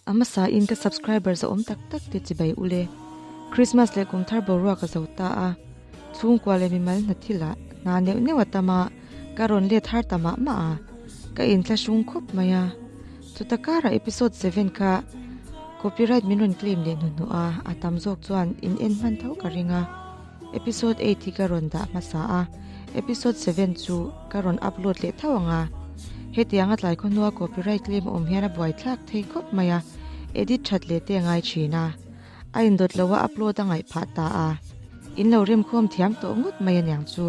A hmasa in ka subscriber zawh awm tak tak te chi bai u le. Christmas leh kum thar boruak a zo ta a, chhungkua leh mimal hna thil ah hna neuh neuh a tam a, ka rawn let har ta mah mah a, ka in thla hruang khawp mai a. Chuta kara episode seven kha copyright min rawn claim leh hnu hnu a, a tam zawk chuan in en hman tho ka ring a. Episode eight hi ka rawn dah hmasa a, episode seven chu ka rawn upload leh tho ang a. Hetiang a tlai khaw hnua copyright claim a awm hian a buai thlak thei khawp mai a, edit that leh te a ngai thin a. A indawt loh a upload a ngaih phah ta a, in lo remkhawm thiam tawh ngawt mai aniang chu.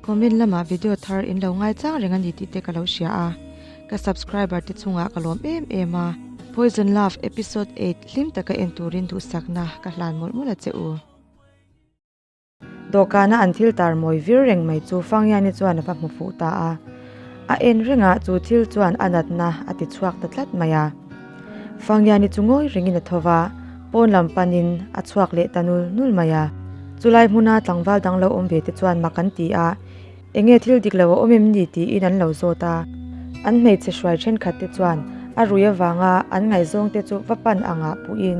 Comment lamah video thar in lo ngai chang reng a ni tih te ka lo hria a, ka subscriber te chungah ka lawm em em a. Poison Love Episode eight hlim taka en turin duhsakna ka hlan mawlh mawlh a che u. Dawhkana an thil tar mawi vir reng mai chu Fangyani chuan a va hmu fuh ta a, a en rengah chu thil chuan a natna a ti chhuak ta tlat mai a. Fangiani chu ngawi rengin a tho va, pawn lam panin a chhuak leh ta nul nul mai a. Chulai hmuna tlangval dang lo awm ve te chuan mak an ti a, enge thil dik lo a awm em ni tiin an lo zawt a. An hmeichhe hruai thenkhat te chuan a rui avanga an ngaihzawng te chu va pan angah puhin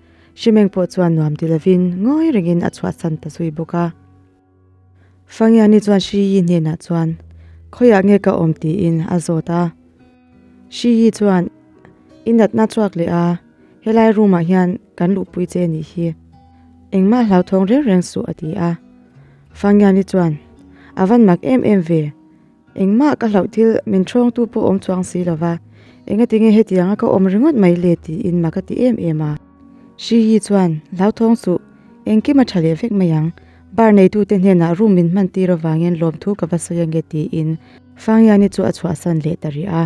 Hrimeng pawh chuan nuam ti lovin ngawi rengin a chhuahsan ta zui bawk a. Fangiani chuan Hri Yi hnenah chuan, Khawiah nge ka awm tiin a zawt a. Hri Yi chuan, I natna chhuak leh a, helai room-ah hian kan luhpui che a nih hi. Engmah hlauthawng reng reng suh a ti a. Fangiani chuan, A van mak em em ve. Engmah ka hlauh thil min thawngtu pawh awm chuang si lova, engatinge hetianga ka awm ringawt mai le tiin maka ti em em a. Hriyi chuan, Hlauthawng suh, engkim a tha leh vek mai ang, bar neitute hnenah room min hman tir avangin lawmthu ka va sawi ange tiin Fangiani chu a chhuahsan leh ta rih a.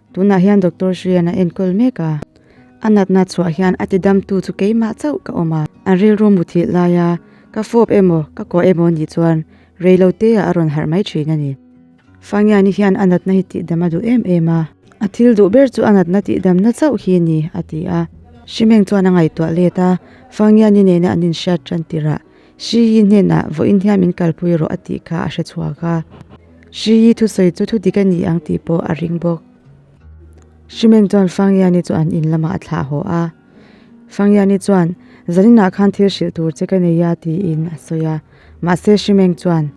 Tunah hian Doctor Hrian a enkawl mek a, a natna chhuah hian a tidamtu chu keimah chauh ka awm a, an rilru mu thih laia ka fawp emaw ka kawh emaw nih chuan reilo teah a rawn harh mai thin a ni. Fangiani hian a natna hi tihdam a duh em em a, a thil duh ber chu a natna tihdamna chauh hi a ni, a ti a. Hrimeng chuan a ngaihtuah let a, Fangiani nena an inhriat tan tirh a, Hriyi hnenah vawin hniam in kalpui rawh a tih kha a hre chhuak a. Hriyi thusawi chu thudik a ni ang tih pawh a ring bawk. Hrimen chuan Fangyani chu an in lamah a thlah haw a. Fangyani chuan, Zaninah khan thil hrilh tur che ka nei a tiin a sawi a. Mahse Hrimeng chuan,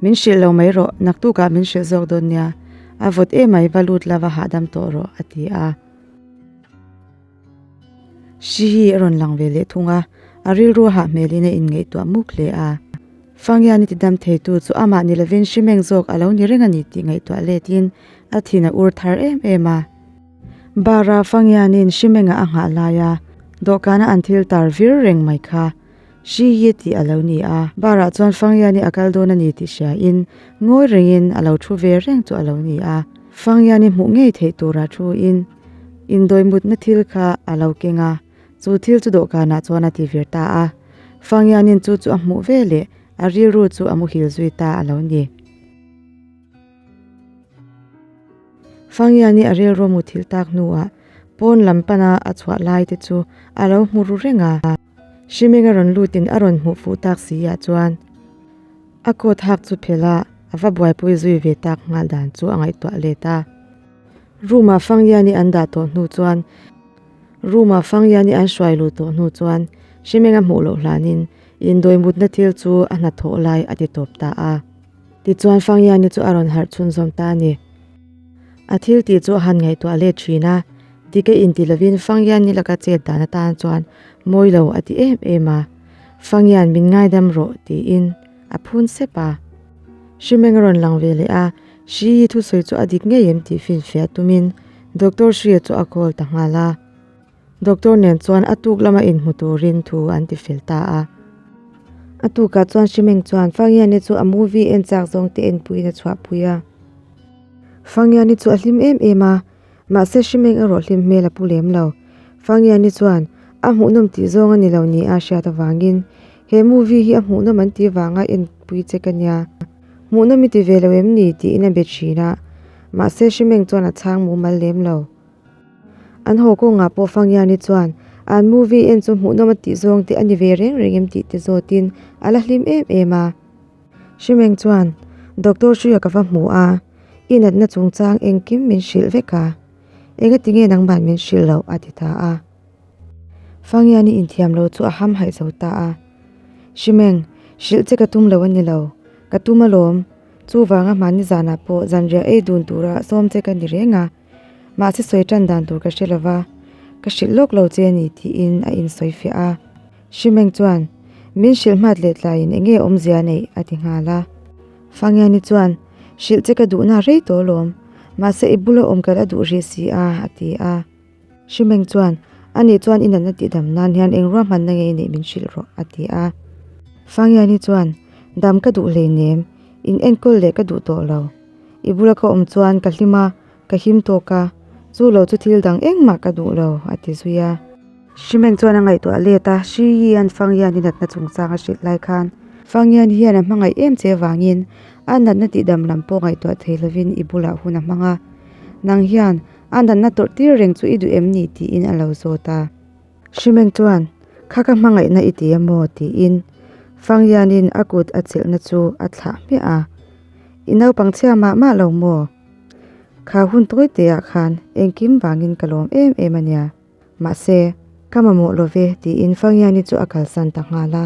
Min hrilh lo mai rawh, naktukah min hrilh zawk dawn nia. A vawt emai va lut lova hahdam tawh rawh a ti a. Hri hi a rawn lang ve leh thung a, a rilru a hah hmelin a inngaihtuah muk hle a. Fangian i tidam theitu chu amah ni lovin hri meng zawk a lo ni reng a ni tih ngaihtuah letin a thin a ur thar em em a. Bara Fangianin hri mengah a nghah laia dawhkana an thil tar vir reng mai kha. Hriie tih a lo ni a, bar ah chuan Fangyani a kal dawn a ni tih hria in ngawi rengin a lo thu ve reng chu a lo ni a. Fangyani hmuh ngei theih tura thu in indawi mutna thil kha a lo keng a, chu thil chu dawhkan ah chuan a tivir ta a. Fangyanin chu chu a hmuh ve leh a rilru chu a muhil zui ta a lo ni. Fangyani a rilru muthil tak hnu ah pawn lam pan a a chhuah lai te chu a lo hmu ru reng a. Hrimenga rawn lutin a rawn hmuh fuh tak si ah chuan a coat hak chu phel a a va buaipui zui ve tak nghal dan chu a ngaihtuah let a. Room ah Fangyani an dah tawh hnu chuan room ah Fangyani an hruai luh tawh hnu chuan Hrimenga hmuh loh hlanin indawi mutna thil chu a hnathawh lai a ti tawp ta a. Tichuan Fangiani chu a rawn harh chhun zawm ta a ni. A thil tih chu a han ngaihtuah let thin a, Dika inti lovin Fangiani laka chet dan atan chuan mawi lo a ti em em a. Fangian min ngaidam rawh tiin a phun sep a. Hrimeng a rawn lang ve leh a, Hriii thusawi chu a dik ngei em tih finfiah tumin Doctor Hria chu a call ta nghal a. Doctor nen chuan a tuk lama in hmu turin thu an ti fel ta a. A tukah chuan Hrimeng chuan Fangiani chu a movie en chak zawng te en puiin a chhuah pui a. Fangiani chu a hlim em em a, mahse Hrimeng erawh hlim hmel a pu lem lo. Fangiani chuan A hmuhnawm tih zawng a ni lo ni a hriat avangin He movie hi a hmuhnawm an tih vanga en pui che ka nia. Hmuhnawm i ti ve lo em ni? tiin a be thin a, mahse Hrimeng chuan a chhang mumal lem lo. An haw kawngah pawh Fangiani chuan, An movie en chu hmuhnawm a tih zawng te a ni ve reng reng em tih ti zawtin a la hlim em em a. Hrimeng chuan, Doctor Hruia ka va hmu a, i natna chungchang engkim min hrilh vek a, engati nge nangmahn min hrilh lo? a ti ta a. Fangiani inthiam lo chu a hamhaih zo ta a, Hrimeng, hrilh che ka tum lo a ni lo, ka tum alawm, chuvanga hmani zanah pawh zanriah ei dun tura sawm che ka ni reng a. Mahse sawi tan dan tur ka hre lo va, ka hrilh lawk lo che a ni, tiin a insawi fiah a. Hrimeng chuan, Min hrilh hmat leh tlaiin eng nge a awmzia a neih? a ti nghal a. Fangiani chuan, Hrilh che ka duhna hrei tawh lawm, mahse i bula awm kalh a duh rih si a, a ti a. Hrimeng chuan, Ani chuan i natna tih dam nan hian eng ruah hmanna ngei neih min hrilh rawh, a ti a. Fangiani chuan, Dam ka duh hleinem, in enkawl leh ka duh tawh lo. I bula ka awm chuan ka hlim a, ka him tawk a, chu lo chu thil dang engmah ka duh lo, a ti zui a. Hrimeng chuan a ngaihtuah let a, Hriyi an Fangyiani natna chungchang a hrilh lai khan. Fangyian hian a hmangaih em che vangin a natna tihdam lam pawh ngaihtuah thei lovin i bulah hun a hmang a, Nang hian a natna tawrhtir reng chu i duh em ni? tiin a lo zawt a. Hrimen chuan, Kha ka hmangaihna i ti a maw? tiin Fangyianin a kut a chelhna chu a thlah hmiah a. I naupang chhia mah mah lo maw? Kha hun tawi tihah khan engkim vangin ka lawm em em a nia. Mahse, ka mamawh lo ve, tiin Fangyiani chu a kalsan ta nghal a.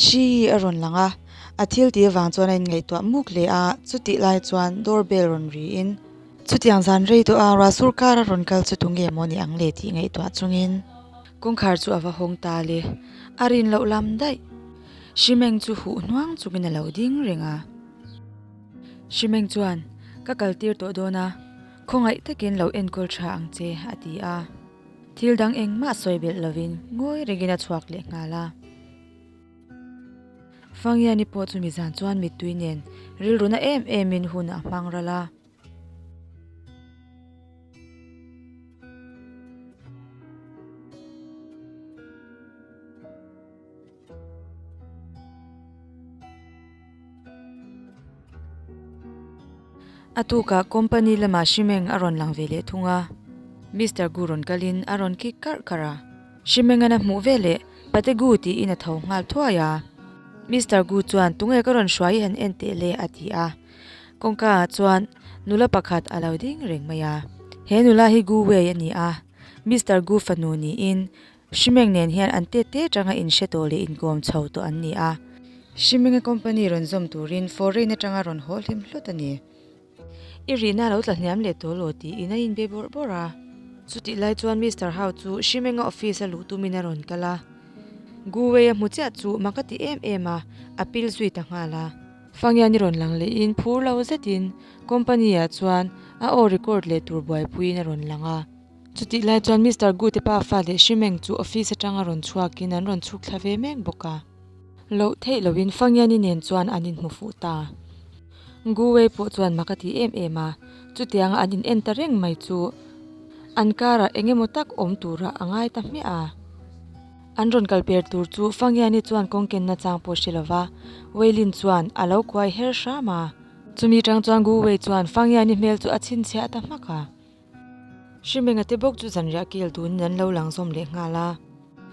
Hri a rawn lang a, a thil ti avang chuan a inngaihtuah muk leh a, chutih lai chuan door bell rawn riin. Chutiang zan rei tawh a, Ruahsur kar a rawn kal chu tu nge maw ni ang le tih ngaihtuah chungin. Kawngkhar chu a va hawng ta le, a rin loh lam daih. Hrimeng chu huh hnuang chungin a lo ding reng a. Hrimeng chuan, Ka kal tir tawh dawn a, khawngaih takin lo enkawl tha ang che, a ti a. Thil dang engmah sawi belh lovin ngawi rengin a chhuak leh nghal a. Fangiani pawh chu mi zan chuan mittui nen rilruna em emin hunah a hmang ral a. A tukah company lamah Hrimeng a rawn lang ve leh thung a, Mister Gu rawn kalin a rawn ki karh karh a. Hrimeng an a hmuh ve le, Pate Gu tiin a tho nghal thuai a. Mister Gu chuan, Tunge ka rawn hruai han en teh le? a ti a. Kawngka ah chuan nula pakhat a lo ding reng mai a. He nula hi Gu Wei a ni a, Mister Gu fanu niin Hrimeng nen hian an tet tet ranga inhre tawh leh inkawm chho tawh an ni a. Hrimenga company rawn zawm turin foreign atanga rawn haw hlim hlut a ni. I rihna a lo tla hniam leh tawh law tiin a inbe bawrh bawrh a. Chutih lai chuan Mister Hau chu Hrimenga office a luh tumin a rawn kal a. Gu Wei-a hmu chiah chu maka ti em em a, a pil zui ta nghal a. Fangian i rawn lang lehin phur lo zetin company-ah chuan a aw record leh tur buaipuiin a rawn lang a. Chutih lai chuan Mister Gu te pa fa leh hri meng chu office atanga rawn chhuakin an rawn chhuk thla ve mek bawk a. Loh theih loin Fangiani nen chuan an in hmu fuh ta. Gu Wei pawh chuan mak a ti em em a, chutianga an in en ta reng mai chu an karah eng emaw tak awm tura a ngai ta hmiah a. An rawn kal per tur chu Fangiani chuan kawng ken na chang pawh hre lova Wei Lin chuan a lo kuai her hram a. Chumi tang chuan Gu Wei chuan Fangiani hmel chu a chhinchhiah ta hmak a. Hrimbenga te bawk chu zanriah kil turin an lo lang zawm leh nghal a.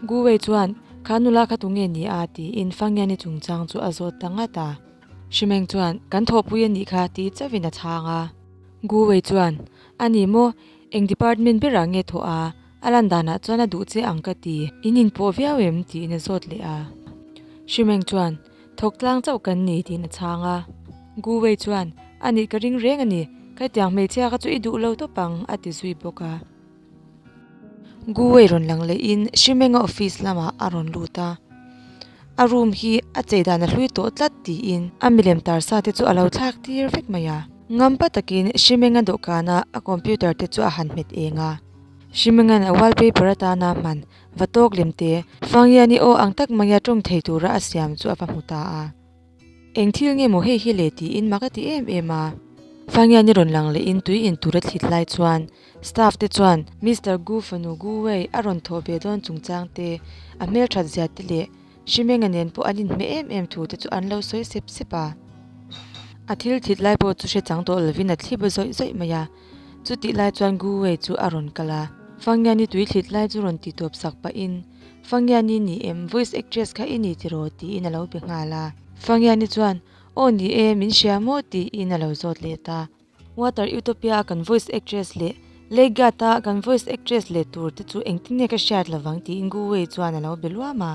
Gu Wei chuan, Kha nula kha tunge a ni a? tiin Fangiani chungchang chu a zawt ta ngat a. Hrimeng chuan, Kan thawhpui a nih kha, tii chauhin a chhang a. Gu Wei chuan, A ni maw? Eng department berah nge thawh a? A lan danah chuan a duh che ang ka ti. In inpawh viau em? tiin a zawt leh a. Hrimeng chuan, Thawk tlang chauh kan ni tiin a chhang a. Gu Wei chuan, A nih ka ring reng a ni, ka tiang hmeichhia ka chu i duh lo tawp ang a ti zui bawk a. Gu Wei rawn lang leh in Hri Menga office lamah a rawn lut a, a room hi a chei dan a hlui tawh tlat tiin a milem tar sa te chu a lo thlak tir vek mai a. Ngam pa takin Hri Menga dawhkana a computer te chu a han hmet eng a. Hri Menga'n a wallpaper atana hman va tawk lem te. Fangia ni aw ang tak maia tawng thei tura a siam chu a va hmu ta a. Eng thil nge maw hei hi le tiin mak a ti em em a. Fangia ni rawn lang leh in tui in tur a thlit lai chuan staff te chuan Mister Gu fanu Gu Wei a rawn thawh ve dawn chungchang te, a hmelthat zia te leh Shimenga nen pawh an in hme em em thu te chu an lo sawi sep sep a. A thil thlit lai pawh chu hre chang tawh lovin a thlip a zawih zawih mai a. Chutih lai chuan Gu Wei chu a rawn kal a, Fang Yanni tui thlit lai chu rawn ti tuap sak pahin, Fang Yanni ni em, voice actress kha i ni tiraw tiin a lo be nghal a. Fang Yanni chuan, Aw ni e, min hria maw tiin a lo zawt leh ta. Water Utopia a kan voice actress leh Lake Guard a kan voice actress leh tur te chu engtin nge ka hriat lovang tiin Gu Wei chuan a lo be luam a.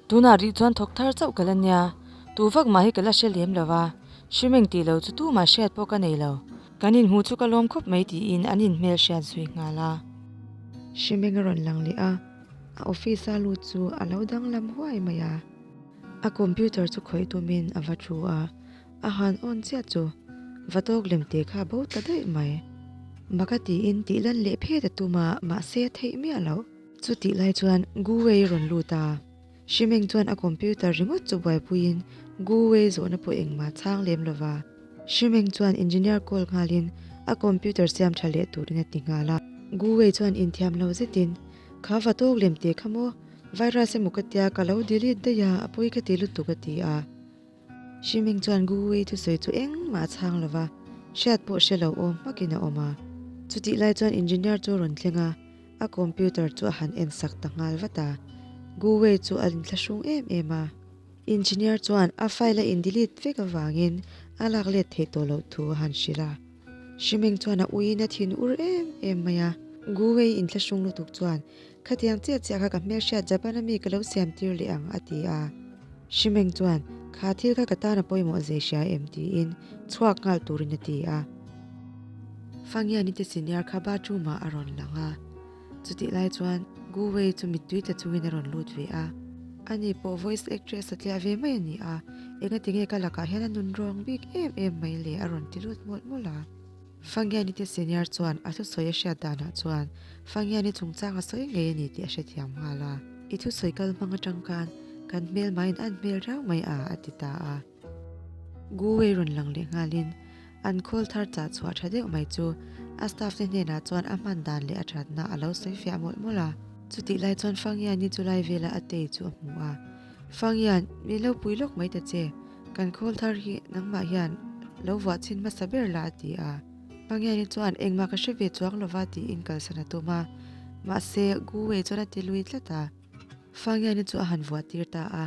Tunah rih chuan thawk thar chauh ka la nia, tu vak mah hi ka la hre lem lo va, hri meng ti lo chu tu mah hriat pawh ka nei lo, kan inhmu chu ka lawm khawp mai tiin an inhmel hriat zui nghal a. Hri meng a rawn lang leh a, a office a lut chu a lo danglam huai mai a, a computer chu khawih tumin a va thu a, a han on chiah chu va tawk lem te kha bo ta daih mai, baka tiin tih lan leh phet a tum a, mahse a theih miah loh. Chutih lai chuan Gu Wei i rawn lut a, Hri Meng chuan a computer ringawt chu buaipuiin Gu Wei zawhna pawh engmah chhang lem lo va. Hri Meng chuan engineer call nghalin a computer siam tha leh turin a ti nghal a. Gu Wei chuan inthiam lo zetin, Kha va tawk lem teh kha maw, virus emaw ka tia ka lo delete daih a, a pawi ka ti lutuk a ti a. Hri Meng chuan Gu Wei thu sawi chu engmah a chhang lo va, hriat pawh hre lo awm hmakin a awm a. Chutih lai chuan engineer chu a rawn thleng a, a computer chu a han en sak ta nghal vat a. Gu Wei chu a intla hruang em em a. Engineer chuan a file a in delete vek avangin a lak let theih tawh loh thu a han hrilh a. Hrimeng chuan a uiin a thin ur em em mai a. Gu Wei in thlahrung lutuk chuan, Khatiang chiah chiah kha ka hmelhriat Japan-a mi ka lo siam tir leh ang, a ti a. Hrimeng chuan, Kha thil kha ka tan a pawimawh zei hria em? tiin chhuak nghal turin a ti a. Fangiani te senior kha bathroom-ah a rawn lang a. Chutih lai chuan Gu Wei chu mittui ta chungin a rawn lut ve a. Ani pawh voice actress a tliah ve mai a ni a, engati nge ka lakah hian a nun rawng bik em em mai le a rawn ti lut mawlh mawlh a. Fangiani te senior chuan a thusawi a hriat danah chuan Fangiani chungchang a sawi ngei a ni tih a hrethiam nghal a. I thusawi kal hmang atang khan kan hmelmaiin an hmel rau mai a, a ti ta a. Gu Wei rawn lang leh nghalin an call thar chah chhuah tha deuh mai chu a staff te hnenah chuan a hman dan leh a thatna a lo sawi fiah mawlh mawlh a. Chutih lai chuan Fang Yan-i chu lai vela a tei chu a hmu a, Fang Yan, min lo pui lawk mai ta che, kan call thar hi nangmah hian lo vuah chhin hmasa ber la a ti a. Fang Yan-i chuan engmah ka hre ve chuak lo va tiin kalsan a tum a, mahse Gu Wei chuan a ti lui tlat a. Fangiani chu a han vuah tir ta a,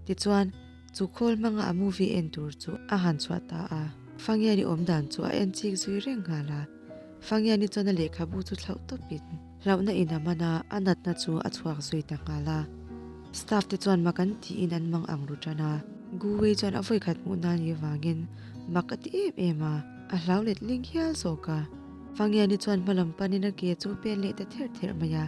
tichuan chu khawl hmanga a movie en tur chu a han chhuah ta a. Fangiani awm dan chu a en chik zui reng nghal a, Fangiani chuan a lehkhabu chu thlauh tawpin hlauhna ina hmana a natna chu a chhuak zui ta nghal a. Staff te chuan mak an tiin an mang ang ru tan a. Gu Wei chuan a vawi khat hmuh na ni avangin mak a ti em em a, a hlau let hling hial zawk a. Fangiani chuan hmalam panin a ke chu pen leh ta ther ther mai a.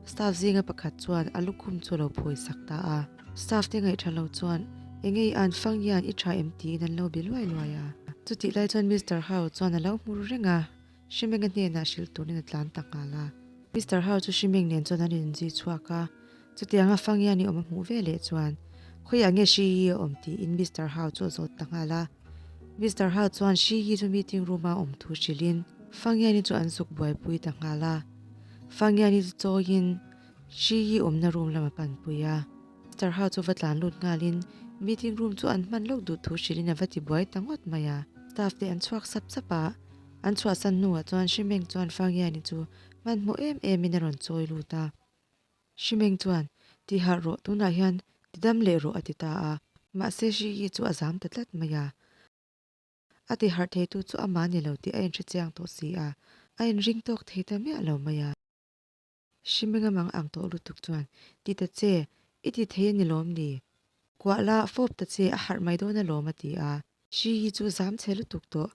Staff zinga pakhat chuan a lukhum chu a lo phawi sak ta a. Staff te ngaihṭha lo chuan, Engei an fang hian i ṭha em tiin an lo be luai luai a. Chutih lai chuan Mister Hau chuan a lo hmur reng a, Hri Menga hnenah hrilh turin a tlan tak nghal a. Mister Hau chu Hri Meng nen chuan an rawn zui chhuak a, chutiang a fang hian i awm a hmuh veleh chuan, Khawiah nge Hri hi a awm tiin Mister Hau chu a zawt ta nghal a. Mister Hart chuan Hri Yi chu meeting room a awm thu hrilhin Fangiani chu an suk buaipui ta nghal a. Fangiani chu chawiin Hri Yi awmna room lama panpui a. Mister Hart chu va tlan lut ngalin meeting room chu an hman lawk duh thu hrilhin a va ti buai ta ngawt mai a. Staff te an chhuak sap sap a. An chhuahsan hnuah chuan Hri Meng chuan Fangiani chu hmanhmawh em emin a rawn chawi lut a. Hrimeng chuan, Ti harh rawh, tunah hian ti dam leh rawh a ti ta a, mahse hri hi chu a zam ta tlat mai a. A ti harh thei tu chu a mahni lo tih a inhrichiang tawh si a, a inring tawk thei ta miah lo mai a. Hrimeng a mang ang tawh lutuk chuan, Ti ta che, i ti thei a ni lawm ni? Kuah la, fawp ta che, a harh mai dawn a lawm a ti a. Hri hi chu zam che lutuk tawh.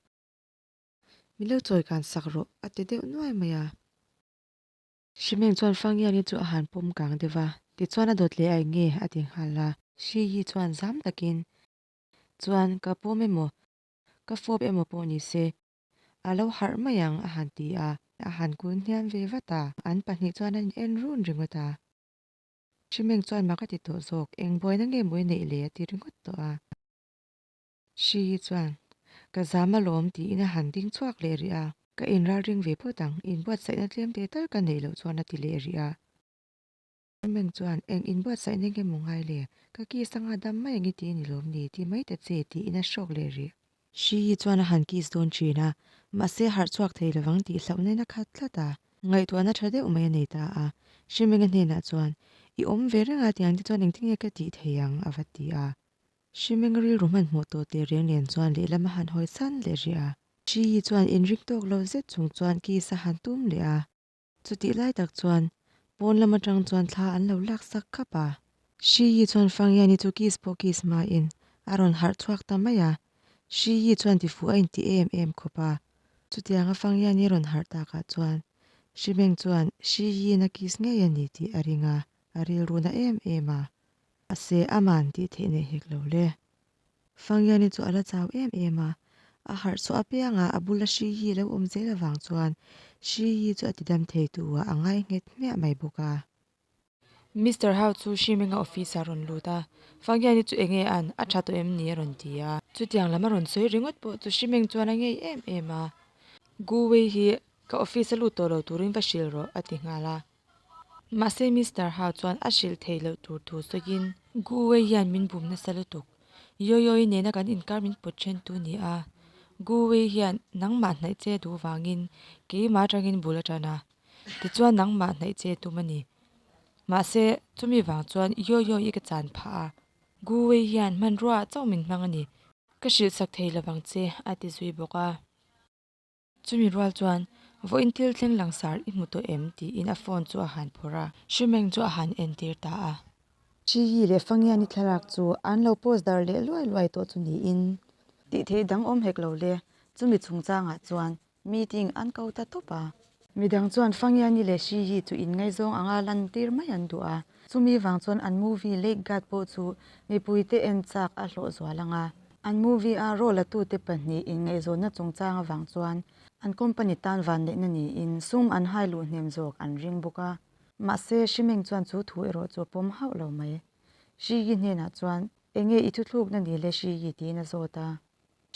Min lo chawi kan sak rawh a ti deuh nuai mai a. Shimeng chuan Fangiani chu a han pawm kang deuh va, tichuan a dawt leh a enge? a ti nghal a. Shiyi chuan zam takin, Chuan ka pawm emaw, ka fawp emaw pawh ni se, a lo harh mai ang, a han ti a. A han kul hniam ve vat a, an pahnih chuan an en run ringawt a. Shimeng chuan maka ti tawh zawk, engbuaina nge mawi neih le? a ti ringawt tawh a. Hri hi chuan, Ka zam alawm, tiin a han ding chhuak leh rih a. Ka in ralring ve phawt ang, in buatsaihna tlemte tal ka neih loh chuan a ti leh rih a. Herman chuan, Eng in buatsaihna nge maw ngai le? Ka kiss anga dam mai ang i ti ni lawm ni, ti mai ta che, tiin a hrawk leh rih. Hri hi chuan a han kiss dawn thin a, mahse harh chhuak thei lo ang tih hlauh na ina khat tlat a. Ngaihtuahna tha deuh mai a nei ta a. Hri Menga hnenah chuan, I awm ve reng a tiang te chuan engtinge ka tih thei ang? a va ti a. Hrimeng rilru hman hmuh tur tih riang nen chuan lehlam a han hawi san leh rih a. Hriyi chuan in ring tawk lo zet chung chuan kiss a han tum leh a. Chutih lai tak chuan pawn lam atang chuan thla an lo lak sak khap a. Hriyi chuan Fangyani chu kiss pawh kiss hmain a rawn harh chhuak ta mai a. Hriyi chuan tifuh a intih em em khawp a. Chutianga Fangyani a rawn harh tak ah chuan Hrimeng chuan Hriyiin a kiss ngei a ni tih a ring a, a rilru na em em a. A se a man tih theih nei hek lo le. Fangiani chu a la chau em em a, a harh chhuah apiangah a bula Hri Yi lo awm zel avang chuan Hri Yi chu a tidam theitua a ngai nghet hmiah mai bawk a. Mister Hau chu Hri Menga office ah a rawn lut a, Fangiani chu enge an a tha tawh em ni a rawn ti a. Chutiang lam a rawn sawi ringawt pawh chu Hri Meng chuan a ngei em em a, Gu Wei hi ka office a lut tawh lo turin va hrilh rawh a ti nghal a. Mahse Mister Hau chuan a hrilh theih loh tur thu sawiin. Gu Wei hian min bum nasa lutuk. Yawi Yawi nena kan inkar min pawt ṭhentu a ni a. Gu Wei hian nangmah hnaih che duh vangin keimah aṭangin bul a ṭan a. Tichuan nangmah hnaih che tum a ni. Mahse, chumi vang chuan Yawi Yawi i ka chan phah a. Gu Wei hian hmanruaah chauh min hmang a ni. Ka hrilhsak thei lo vang che, a ti zui bawk a. Chumi rual chuan, Vawiin thil thleng langsar i hmu tawh em? tiin a phone chu a han phawrh a. Hri Meng chu a han entir ta a. Hri Yi leh Fa Ngiani thlalak chu an lo post dar leh luai luai tawh chu niin. Tih thei dang awm hek lo le. Chumi chungchangah chuan meeting an ko ta tawp a. Midang chuan Fa Ngiani leh Hri Yi chu in ngaizawng anga lantir mai an duh a. Chumi vang chuan an movie Lake Guard pawh chu mipuite en chak a hlawh zual ang a. An movie a role la tute pahnih in ngaihzawnna chungchang avang chuan an company tan vanneihna niin sum an hai luh hnem zawk an ring bawk a. Mahse, Hri Meng chuan chu thu erawh chu a pawm hauh lo mai. Hri Yi hnenah chuan, Enge i thuthlukna ni le Hri Yi? tiin a zawt a.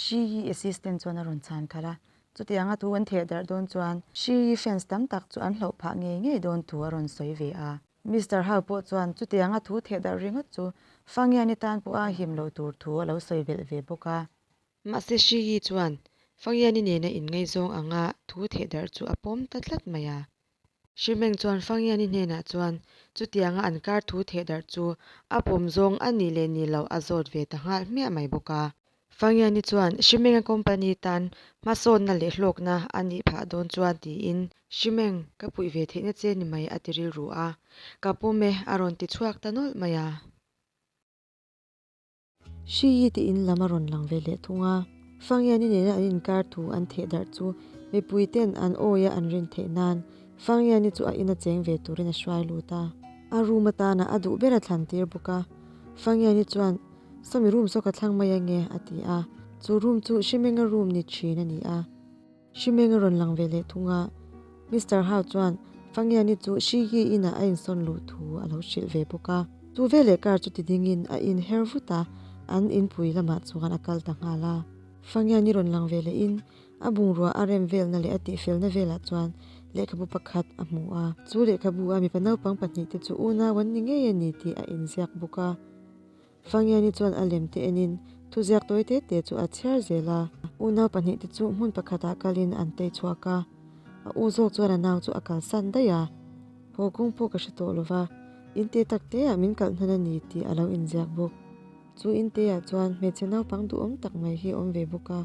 Hri Yi assistant chuan a rawn chhan khalh a. Chutianga thu an theh darh dawn chuan Hri Yi fans tam tak chu an hloh phah ngei ngei dawn thu a rawn sawi ve a. Mister Hau pawh chuan chutianga thu theh darh ringawt chu Fangiani tan pawh a him lo tur thu a lo sawi belh ve bawk a. Mahse Hri Yi chuan Fangiani nena inngaizawng anga thu theh darh chu a pawm ta tlat mai a. Hri Meng chuan Fangiani hnenah chuan chutianga an kar thu theh darh chu a pawm zawng a nih leh nih loh a zawt ve ta nghal hmiah mai bawk a. Fangiani chuan Hrimenga company tan hmasawnna leh hlawkna a nih phah dawn chuan tiin, Hrimeng, ka puih ve theihna che ni mai a ti rilru a, ka pawm e a rawn ti chhuak ta nawlh mai a. Hriii tiin lam a rawn lang ve hleh thung a. Fangiani nena an inkar thu an theh darh chu mipui ten an awi a an rin theih nan, Fangiani chu a in a cheng ve turin a hruai lut a. A room atana a duh ber a thlan tir bawk a. Fangiani chuan Sawmi room saw ka thlang mai ange, a ti a. Chu room chu Hrimenga room ni thin a ni a. Hrimeng a rawn lang ve leh thung a. Mister Hau chuan Fangiani chu Hrigie inah a insawn luh thu a lo hrilh ve bawk a. Chu veleh car chu ti dingin a in her vut a, an in pui lamah chuan a kal ta nghal a. Fangiani rawn lang ve leh in a bungrua a rem velna leh a tihfelna velah chuan lehkhabu pakhat a hmu a. Chu lehkhabu a mipa naupang pahnih te chu una wan ni ngei a ni tih a in ziak bawk a. Fangiani chuan a lem te enin thuziak tawi te te chu a chhiar zel a. U nau pahnih te chu hmun pakhatah kalin an tei chhuak a, a u zawk chuan a nau chu a kalsan daih a. Haw kung pawh ka hre tawh lo va, in te tak hle ah min kal hnan a ni tih a lo inziak bawk. Chu in te ah chuan hmeichhe naupang duhawm tak mai hi a awm ve bawk a.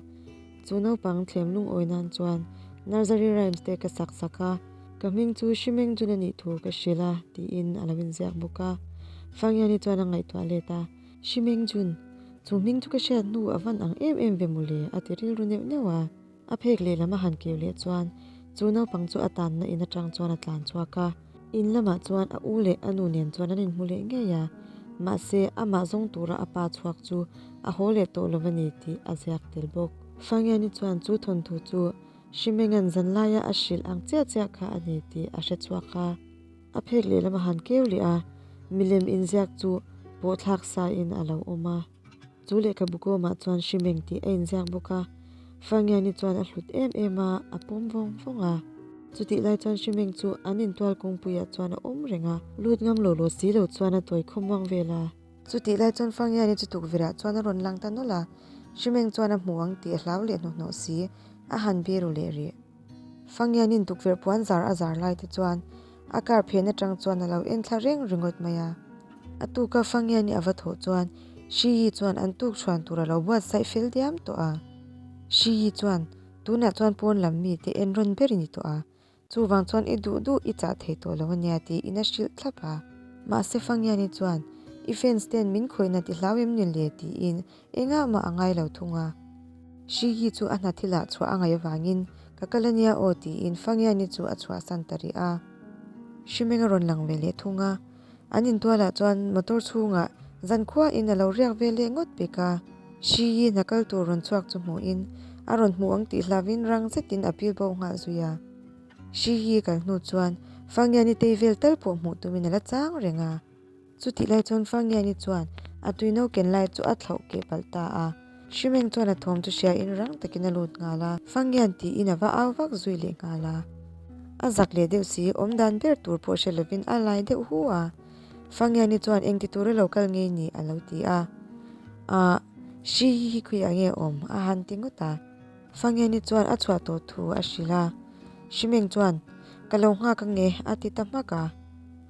Chu naupang thlem lungawi nan chuan Nursery Rhymes te ka sak sak a, ka hming chu Hrimengjun a nih thu ka hrilh a tiin a lo inziak bawk a. Fanghiani chuan a ngaihtuah let a, Hrimengjun? Chu hming chu ka hriat hnu a van ang em em ve maw le? a ti rilru neuh neuh a. A phek lehlam a han keu leh chuan chu naupang chu a tanna in atang chuan a tlan chhuak a. In lamah chuan a u leh a nu nen chuan an inhmu leh ngei a, mahse amah zawng tura a pa chhuak chu a haw leh tawh lo a ni tih a ziak tel bawk. Fangiani chuan chu thawnthu chu Hrimengan zan laia a hrilh ang chiah chiah kha a ni tih a hre chhuak a, a phek leh lam a han keu leh a, milem inziak chu pawhthlak sa in a lo awm a. Chu lehkha bukawmah chuan hri meng tih a inziak bawk a, Fangiani chuan a hlut em em a, a pawm vawng vawng a. Chutih lai chuan hri meng chu an intual kawngpuiah chuan a awm reng a, lut ngang lo lo si lo chuan a tawi khawm vang vel a. Chutih lai chuan Fangiani chu tukverhah chuan a rawn lang ta nawlh a, hri meng chuan a hmu ang tih a hlau leh hnawh hnawh si, a han biru leh rih. Fangianin tukverh puanzar a zar lai te chuan a kar phen atang chuan a lo en thla reng ringawt mai a. A tuka Fangiani a va thawh chuan Hri Yi chuan an tuk chhuan tur a lo buat saih fel diam tawh a. Hri Yi chuan, Tunah chuan pawn lam mite en rawn ber i ni tawh a, chuvang chuan i duh duh i chah thei tawh lo a nia tiin a hrilh thlap a. Mahse Fangiani chuan, I fans ten min khawina ti hlau em ni le tiin Engah mah a ngai lo thung a. Shigi chu a hnathil ah chhuah a ngaih vangin, Ka kal a nia aw tiin Fangiani chu a chhuahsan ta rih a. Hrimenga rawn lang ve leh thung a. An intual ah chuan motor chhung ah zan khua in a lo riak vel leh ngawt bik a. Shigi hna kal tur rawn chhuak chu hmuh in, a rawn hmuh ang tih hlav in rang zet in a pil bawh nghal zui a. Shigi kal hnu chuan Fangiani tei vel tal pawh hmuh tum in a la chang reng a. Chutih lai chuan Fangiani chuan a tuino ken lai chu a thlauh keh palh ta a. Hrimeng chuan a thawm chu hria in rang takin a lut nghal a. Fangian tiin a va au vak zui leh nghal a. A zak leh deuh si, awm dan ber tur pawh hre lovin a lai deuh hu a. Fangiani chuan engti tur a lo kal ngei ni? a lo ti a. Aah, hri hi khawihah nge a awm? a han ti ngawt a. Fangeni chuan a chhuah tawh thu a hrilh a, Hrimeng chuan, Ka lo nghak a nge, a ti ta hmak a.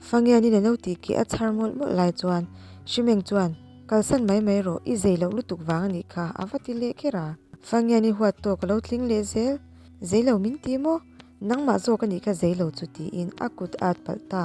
Fangenin a lo tih khi a chhar mawlh mawlh lai chuan Hrimeng chuan, Kalsan mai mai rawh, i zei loh lutuk vang a nih kha, a va ti leh kher a. Fangeni huat tawk a lo tling leh zel, Zei lo min ti maw? Nangmah zawk a nih kha zei lo chu tiin a kut at palh ta.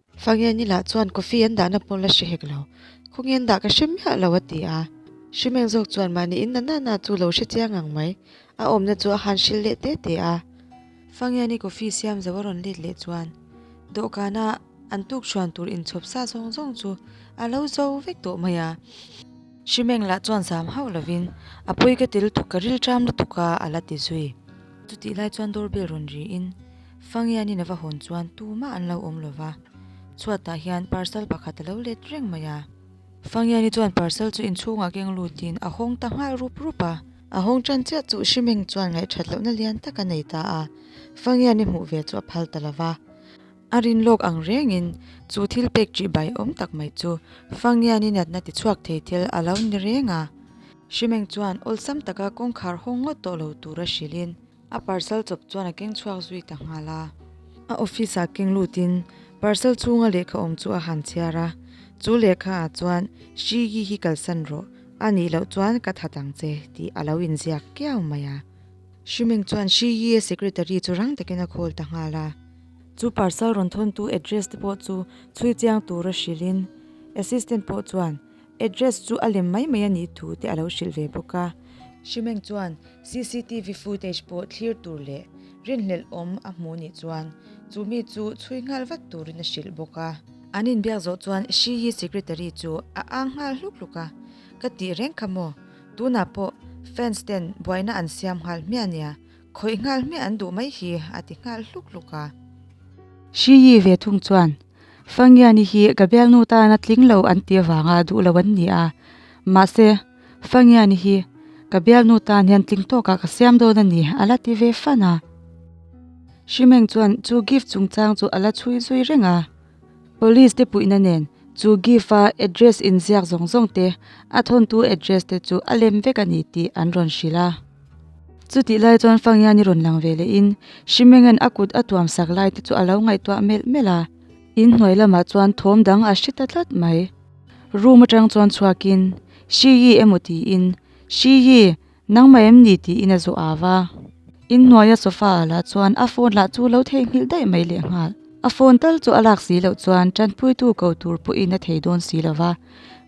Fangel ni lah chuan coffee an dahna pawh la hre hek lo. Khawngin an dah ka hre miah lo a ti a. Hrimeng zawk chuan mahni in nana na chu lo hre chiang ang mai. A awmna chu a han hrilh leh te te a. Fangel ni coffee siam zo a rawn let leh chuan dawhkan ah an tukṭhuan tur inchhawp sa zawng zawng chu a lo zo vek tawh mai a. Hrimeng lah chuan zam hauh lovin, A pawi ka ti lutuk, ka rilṭam lutuk a, a la ti zui. Chutih lai chuan doorbell rawn riin, Fangianin a va hawn chuan tu mah an lo awm lo va, chhuatah hian parcel pakhat a lo let reng mai a. Fangiani chuan parcel chu inchhungah keng lutin a hawng ta nghal rup rup a. A hawng ṭan chiah chu Hrimeng chuan ngaihṭhat lohna lian tak a nei ta a, Fangiani hmuh ve chu a phal ta lo va. A rin lawk ang rengin chu thil pek tih bai awm tak mai chu Fangian i natna ti chhuak thei tel a lo ni reng a. Hrimeng chuan awlsam taka kawngkhar haw ngawt tawh lo tur a hrilhin a parcel chawp chuan a keng chhuak zui ta nghal a. A office ah keng lutin parcel chhunga lehkha awm chu a han chhiar a, chu lehkha ah chuan Hriyi hi kalsan rawh, a nih loh chuan ka that ang che tih a lo inziak kiau mai a. Hrimeng chuan Hriyi-a secretary chu rang takin a call ta nghal a. Chu parcel rawn thawntu address te pawh chu chhui chiang tur a hrilhin assistant pawh chuan address chu a lem mai mai a nih thu te a lo hrilh ve bawk a. Hrimeng chuan cctv footage pawh thlir tur leh rinhlelh awm a hmuh nih chuan chu mi chu chhui nghal vat turin a hrilh bawk a. An inbiak zawh chuan Shiyi secretary chu a ang nghal hluk hluk a, ka tih reng kha maw, tunah pawh fans ten buaina an siam nghal hmiah nia, Khawih nghal hmiah an duh mai hi, a ti nghal hluk hluk a. Hri Yi ve thung chuan, Fangiani hi ka bialnu tan a tling lo an ti avanga duh lo an ni a. Mahse, Fangiani hi ka bialnu tan hian tling tawkah ka siam dawn a ni, a la ti ve fan a. Hri Meng chuan chu gift chungchang chu a la chhui zui reng a. Police te puihna nen chu Gift a address inziak zawng zawng te, a thawntu address te chu a lem vek a ni tih an rawn hrilh a. Chutih lai chuan Fangian i rawn lang ve leh in Hri Mengen a kut a tuam sak lai te chu a lo ngaihtuah melh melh a. In hnuai lamah chuan thawm dang a hri ta tlat mai. Room atang chuan chhuak in, Hri Yi emaw tiin, Hri Yi, Nangmah em ni ti in a zawh a va. In hnuaia sofa a la chuan a phone lah chu lo thei nghilh daih mai leh nghal. A phone tal chu a lak si loh chuan tanpui tu ko tur pawh in a thei dawn si lo va.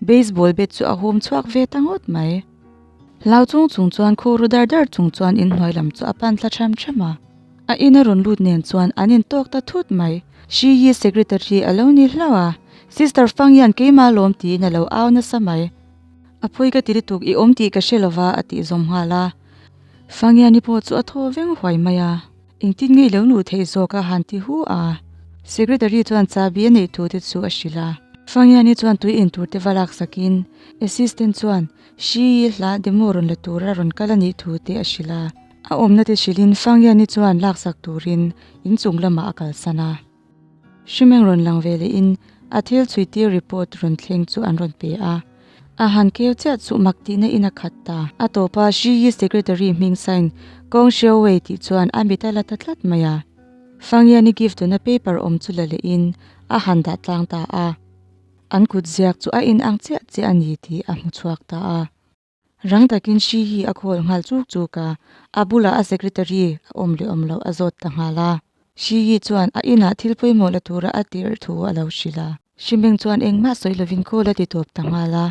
Baseball bat chu a hum chhuak ve ta ngawt mai. Hlau chung chung chuan khaw ru dar dar chung chuan in hnuai lam chu a pan thla ṭham ṭham a. A in a rawn lut nen chuan an in tawk ta thut mai. Hri Yi secretary a lo ni hlauh a, Sister Fang hian keimah a lawm ti in a lo au nasa mai. A phawi ka ti lutuk, i awm tih ka hre lova a tih zawm nghal a. Fangiani pawh chu a thaw veng huai mai a, engtin ngei lo luh theih zawk a han ti hu a. Secretary chuan chabi a neih thute chu a hrilh a. Fangiani chuan tui en tur te va lak sak in assistant chuan hrii hla demo rawn la tur a rawn kal a nih thu te a hrilh a. A awmna te hrilh in Fangiani chuan lak sak turin in chung lamah a kalsan a. Hrimeng rawn lang ve leh in a thil chhui tir report rawn thleng chu an rawn pe a, a han keu chiah chuh mak tih na in a khat ta. A tawp a Hriyi secretary hming sign Kawng Hriau Wei tih chuan a mit a la ta tlat mai a. Fangian i gift tuna paper awm chu la leh in a han dah tlang ta a, an kut ziak chu a in ang chiah chiah a ni tih a hmu chhuak ta a. Rang takin hri hi a khawl nghal chuk chuk a, a bulah a secretary a awm leh awm loh a zawt ta nghal a. Hri hi chuan a inah thil pawimawh la tura a tirh thu a lo hrilh a. Hri Meng chuan engmah sawi lovin call a ti tuap ta nghal a,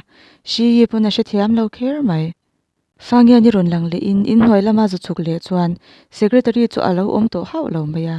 Hri hi pawn a hrethiam lo kher mai. Fangian i rawn lang lehin inhnuai lama zu chhuk leh chuan secretary chu a lo awm tawh hauh lo mai a.